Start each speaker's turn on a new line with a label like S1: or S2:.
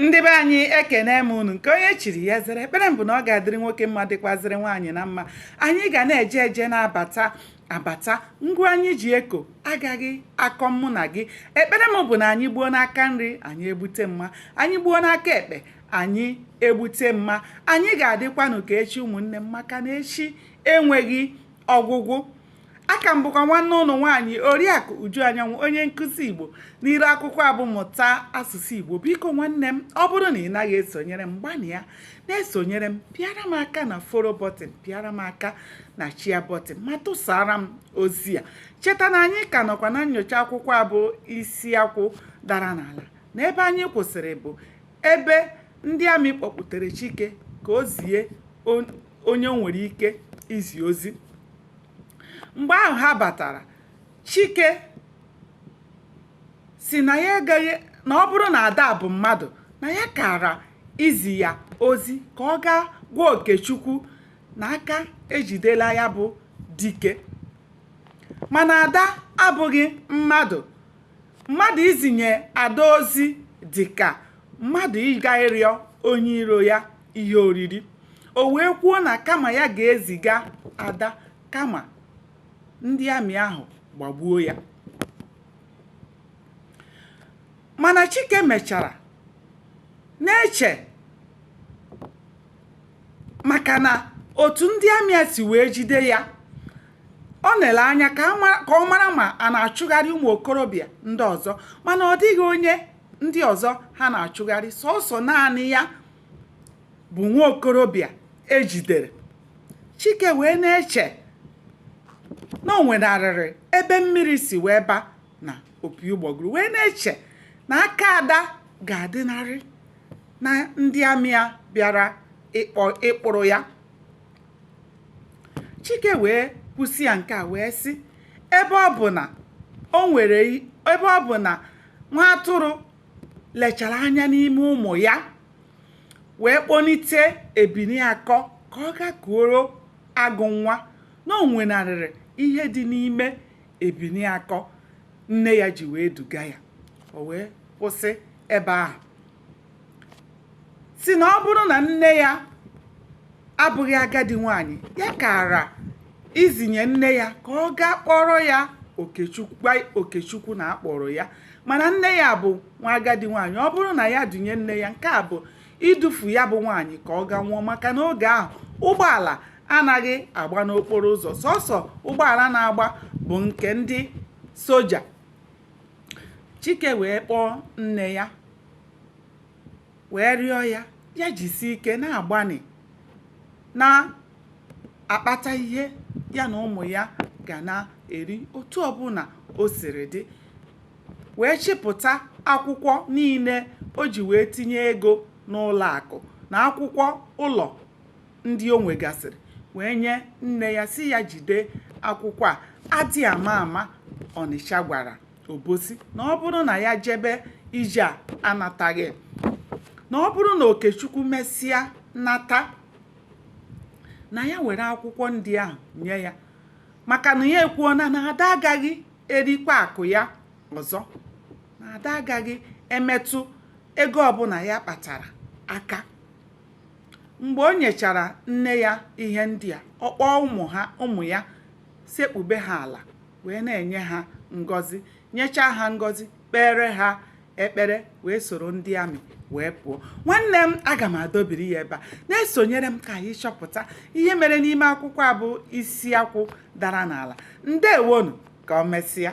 S1: ndị be anyị ekene m unu nke onye chiri ya zere ekpere m bụ na ọ ga-adịrị nwoke mma dịkwazịrị nwaanyị na mma anyị ga na-eje eje na-abata abata ngwa anyị ji eko agaghị akọ mụ na gị ekpere m bụ na anyị gbuo n'aka nri anyị egbute mma anyị gbuo n'aka ekpe anyị egbute mma anyị ga-adịkwanụ ka echi ụmụnne m maka na echi enweghị ọgwụgwụ aka m bụkwa nwanne unu nwaanyị oriakụ uju anyanwụ onye nkụzi igbo n'iru akwụkwọ a bụ mụta asụsụ igbo biko nwanne m ọ bụrụ na ị naghị esonyere m gbanịa na-esonyere m pịara m aka na follow button pịara m aka na share button ma tụsara m ozi a cheta na anyị ka nọkwa na nyocha akwụkwọ a bụ isi akwụ dara n'ala na ebe anyị kwụsịrị bụ ebe ndị amị kpọkwutere chike ka o zie onye o nwere ike izi ozi mgbe ahụ ha batara chike sị na ya agaghị na ọ bụrụ na ada bụ mmadụ na ya kara izi ya ozi ka ọ gaa gwa okechukwu na aka ejidela ya bụ dike mana ada abụghị mmadụ Mmadụ izinye ada ozi dị ka mmadụ ịga ịrịọ onye iro ya ihe oriri. O wee kwuo na kama ya ga-eziga ada kama ndị amị ahụ gbagbuo ya. Mana Chike mechara na-eche maka na otu ndị amị a si wee jide ya ọ na-ele anya ka ọ mara ma a na-achụgharị ụmụ okorobịa ndị ọzọ mana ọ dịghị onye ndị ọzọ ha na-achụgharị sọsọ naanị ya bụ nwa okorobịa e jidere chike wee na-eche na o nwenarịrị ebe mmiri si wee ba na opi ụgbọgụrụ wee na-eche na aka ada ga-adịnarị na ndị amị a bịara ịkpụrụ ya chike wee kwusịa nke a wee sị ebe ọ bụ na o nwere ebe ọ bụ na nwa atụrụ lechara anya n'ime ụmụ ya wee kpọnite ebini akọ ka ọ gaa kuoro agụ nwa na o nwenarịrị ihe dị n'ime ebini akọ nne ya ji wee duga ya o wee kwụsị ebe ahụ sị na ọ bụrụ na nne ya abụghị agadi nwanyị ya kara izinye nne ya ka ọ gaa kpọrọ ya okechukwu gwa okechukwu na a kpọrọ ya mana nne ya bụ nwa agadi nwanyị ọ bụrụ na ya dunye nne ya nke a bụ idufu ya bụ nwanyị ka ọ gaa nwụọ maka na oge ahụ ụgbọala anaghị agba n'okporo ụzọ sọsọ ụgbọala na-agba bụ nke ndị soja chike wee kpọọ nne ya wee rịọ ya ya jisi ike na-agbanị na-akpata ihe ya na ụmụ ya ga na-eri otu ọbụla o siri dị wee chịpụta akwụkwọ niile o ji wee tinye ego n'ụlọ akụ na akwụkwọ ụlọ ndị o nwegasịrị wee nye nne ya sị ya jide akwụkwọ a adị ama ama ọnịcha gwara obosi na ọ bụrụ na ya jebe ije a anataghị na ọ bụrụ na okechukwu mesịa nata na ya were akwụkwọ ndị ahụ nye ya maka na ya ekwuona na ada agaghị erikwa akụ ya ọzọ na ada agaghị emetụ ego ọbụla ya kpatara aka Mgbe o nyechara nne ya ihe ndị a, ọ kpọọ ụmụ ya sekpube ha ala wee na-enye ha ngọzi, nyechaa ha ngọzi, kpeere ha ekpere wee soro ndị amị wee pụọ. Nwanne m aga m adọbiri ya ebe a. Na-esonyere m ka anyị chọpụta ihe mere n'ime akwụkwọ a bụ isi akwụ dara n'ala. Ndewonu, ka o mesịa.